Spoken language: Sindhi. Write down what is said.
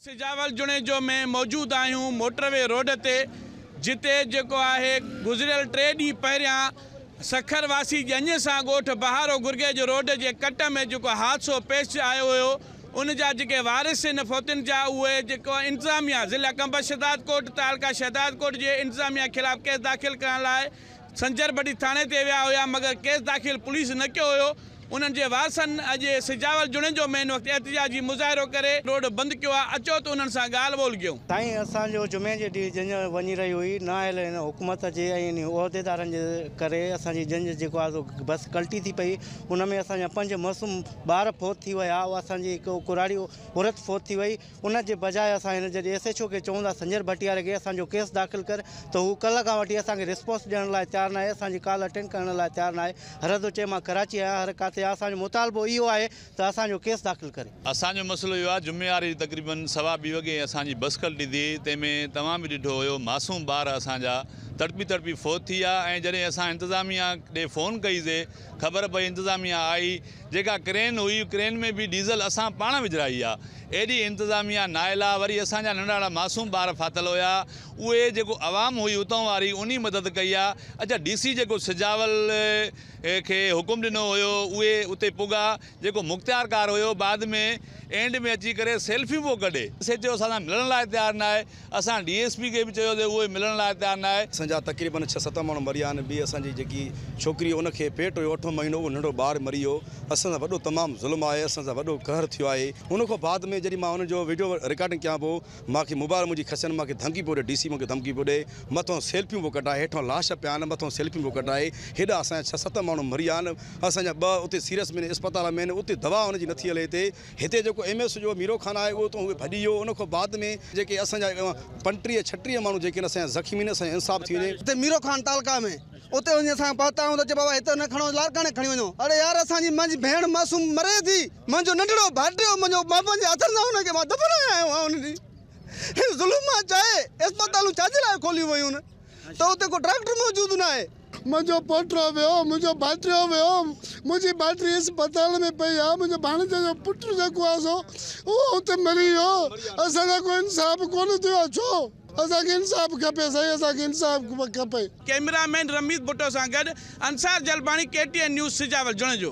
سجاول جوڻيجو ۾ موجود آهيون موٽر وي روڊ تي جتي جيڪو آهي گذريل ٽي ڏينهن پهريان سکر واسي ڄڃ سان ڳوٺ بهارو گرگيج روڊ جي ڪٽ ۾ جيڪو حادثو پيش آيو هيو ان جا جيڪي وارث ان فوتين جا اهي جيڪو انتظاميا ضلع ڪنڀر شهدادڪوٽ تعلقه شهدادڪوٽ جي انتظاميا خلاف ڪيس داخل ڪرڻ لاء سنجر بٽي ٿاڻي تي ويا هيا مگر ڪيس داخل پوليس نه ڪيو هيو انهن جي وارثن اڄ سجاول جوڻيجو مين وقت احتجاجي مظاهرو ڪري روڊ بند ڪيو آهي اچو ته انهن سان ڳالهه ٻولهه ڪيون. سائين اسان جو جمعي جي ڏينهن جنج وڃي رهي هئي نه آيل هن حڪومت جي ۽ انهي عهديدارن جي ڪري اسان جي جنج جيڪو آهي سو بس ڪلٽي ٿي پئي ان ۾ اسان جا پنج معصوم ٻار فوت ٿي ويا اسان جي هڪ ڪراڙي عورت فوت ٿي وئي ان جي بجاء اسان هن جي ايس ايڇ او کي چئون ٿا سنجر ڀٽياري کي اسان جو ڪيس داخل ڪر ته هو ڪلهه کان وٺي اسان کي رسپانس ڏيڻ لاء تيار ناهي اسان جي ڪال اٽينڊ ڪرڻ لاء تيار ناهي هرحد چئي مان ڪراچي آهيان هر ڪاٿي آهيان اسان جو مطالبو اهو آهي ته اسان جو ڪيس داخل ڪري. اسان جو مسئلو اهو آهي جمعي واري تقريباً سوا ٻي وڳي اسان جي بس کلٽي ٿي تنهن ۾ توهان به ڏٺو هيو معصوم ٻار اسان جا تڙپي تڙپي فوت ٿي ويا ۽ جڏهن اسان انتظاميا ڏي فون ڪئي سي خبر پئي انتظاميا آئي جيڪا ڪرين هئي ڪرين ۾ به ڊيزل اسان پاڻ وجهرائي آ ايڏي انتظاميا نااهل آ وري اسان جا ننڍاڻا معصوم ٻار ڦاٿل هيا اهي جيڪو عوام هئي اتان واري انهي مدد ڪئي آ اچا ڊي سي جيڪو سجاول کي حڪم ڏنو هيو اهي اتي پڳا جيڪو مختيار ڪار هيو بعد ۾ اينڊ ۾ اچي ڪري سيلفيون پيو ڪڍي سيچو اسان سان ملڻ لاء تيار ناهي. اسان ڊي ايس پي کي به چيوسي اهو ملڻ لاء تيار ناهي. اسان جا تقريبن ڇهه ست ماڻهو مريا آهن ٻي اسان جي جيڪي ڇوڪري ان کي پيٽ هيو اٺون مهينو اهو ننڍو ٻار مري ويو اسان سان وڏو تمام ظلم آهي اسان سان وڏو قهر ٿيو آهي ان کان بعد ۾ جڏهن مان ان جو وڊيو رڪارڊنگ ڪيان پيو مان کي موبائل منهنجي کسين مان کي ڌمڪي پيو ڏي ڊي سي مون کي ڌمڪي پيو ڏي مٿو سيلفيون پيو ڪڍائي هيٺان لاش پيا آهن مٿو سيلفيون پيو ڪڍائي هيڏا اسان جا ڇهه ست ماڻهو مريا آهن اسان جا ٻه اتي سيريس ۾ اسپتال ۾ آهن اتي دوا ان جي نٿي هلي هتي هتي جيڪو ايم ايس جو ميرو خان آهي اهو اتان هوء ڀڄي ويو ان کان بعد ۾ جيڪي اسان جا پنٽيهه ڇٽيهه ماڻهو جيڪي آهن اسان جا زخمي آهن اسان جو انصاف ٿي وڃي. هتي ميرو خان تعلقه ۾ اتي وڃي اسان پهتا آهيون ته چئي بابا هتي نه کڻو لاڙڪاڻي کڻي وڃو اڙي يار اسان جي منهنجي ڀيڻ معصوم مري ٿي منهنجو ننڍڙو ڀائٽيو منهنجو مان پنهنجي هٿن سان ان کي مان دفنائي آيو آهيان ان جي ظلم مان چاهي اسپتالون ڇا جي لاء کوليون ويون ته اتي ڪو ڊاڪٽر موجود ناهي. منهنجو پوٽو ويو، منهنجو ڀائٽيو ويو، منهنجي ڀائٽي اسپتال ۾ پئي آهي، منهنجي ڀاڻيجي جو پٽ جيڪو آهي سو اهو اتي مري ويو، اسان سان ڪو انصاف ڪونه ٿيو آهي، ڇو؟ اسان کي انصاف کپي سائين، اسان کي انصاف کپي. ڪئميرا مين رميت ڀٽو سان گڏ Ansar Jalbani K T N news Sujawal Junejo.